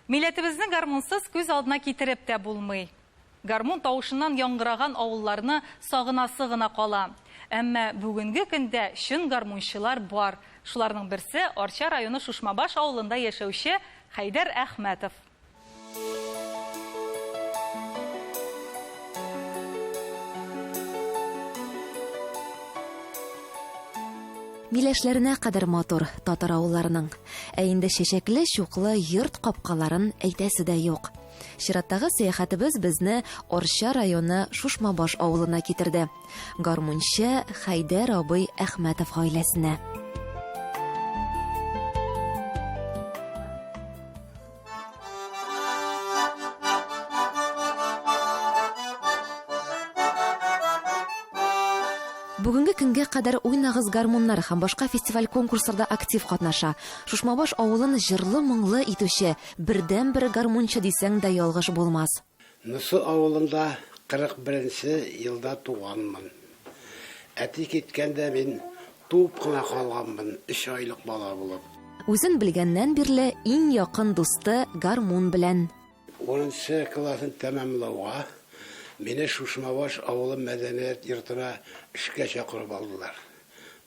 Милләтебезне гармунсыз күз алдына китереп тә булмый. Гармун тавышыннан яңгыраган авылларны сагынасы гына кала. Әмма бүгенге көндә чын гармунчылар бар. Шуларның берсе, Арча районы Шушмабаш авылында яшәүче Хәйдәр Әхмәтов. Миләшләренә кадәр матур татар авылларының. Ә инде чәчәкле, чуклы йорт капкаларын әйтәсе дә юк. Чираттагы сәяхәтебез безне Арча районы Шушмабаш авылына китерде. Гармунчы Хәйдәр абый Әхмәтов гаиләсенә. Бүгенге көнгә кадәр уйнагыз гармуннар һәм башка фестиваль-конкурсларда актив катнаша. Шушмабаш авылын җырлы-моңлы итүче бердәнбер гармунчы дисәң дә ялгыш булмас. Нсу авылында 41 нче елда туганмын. Әти киткәндә мин туып кына калганмын, өч айлык бала булып. Үзен белгәннән бирле иң якын дусты гармун белән. Унынчы класын тәмамлауга, мине Шушмабаш авылы мәдәният йортына эшкә чакырып алдылар.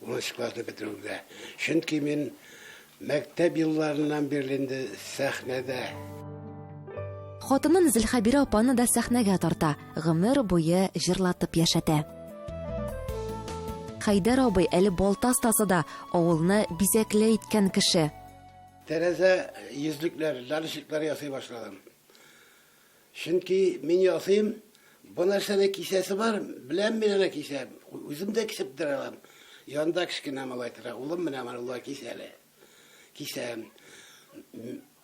Унынчы классны бетерүгә. Чөнки мин мәктәп елларыннан бирле инде сәхнәдә. Хатынын Зөлхәбирә апаны да сәхнәгә тарта, гомер буе җырлатып яшәтә. Хәйдәр абый әле балта остасы да, авылны бизәкле иткән кеше. Тәрәзә йөзлекләр, лялечеклар ясый башладым. Чөнки мин ясыйм, бу нәрсәне кисәсе бар, беләм мин аны кисә, үзем дә кисеп тора алам. Янда кечкенә малай тора, улым менә монда кис әле. Кисәм.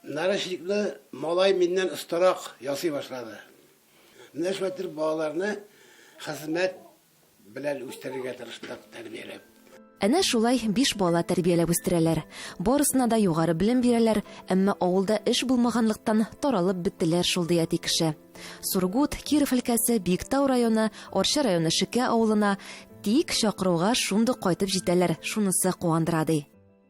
Нарочникны малай миннән остарак ясый башлады. Менә шулай итеп балаларны хезмәт Белән үстерергә тырыштык, тәрбияләп. Әнә шулай биш бала тәрбияләп үстерәләр. Барысына да югары белем бирәләр, әмма авылда эш булмаганлыктан, таралып беттеләр шул, ди әти кеше. Сургут, Киров өлкәсе, Биектау районы, Арча районы Шекә авылына, тик, чакыруга шундук кайтып җитәләр, шунысы куандыра, ди.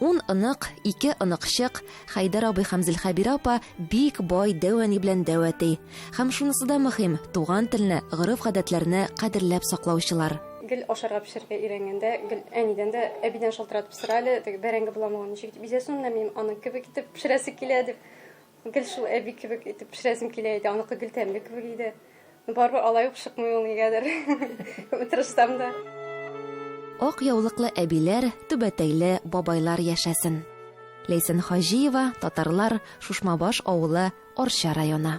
Ун онык, ике оныкчык, Хәйдәр абый һәм Зөлхәбирә апа бик бай дәү әни белән дәү әти. Һәм шунысы да мөһим, туган телне, гореф-гадәтләрне кадерләп саклаучылар. Гел ашарга пешерергә өйрәнгәндә, гел әнидән дә, әбидән шалтыратып сора әле, теге бәрәңге буламаган ничек итеп изәсен, менә минем аның кебек итеп пешерәсе килә, дип. Гел шул әби кебек итеп пешерәсем килә иде, аныкы гел тәмле кебек иде. Барыбер алай ук шыкмый ул нигәдер. Күп тырышсам да. Ак яулыклы әбиләр, түбәтәйле бабайлар яшәсен. Ләйсән Хаҗиева, татарлар, Шушмабаш авылы, Арча районы.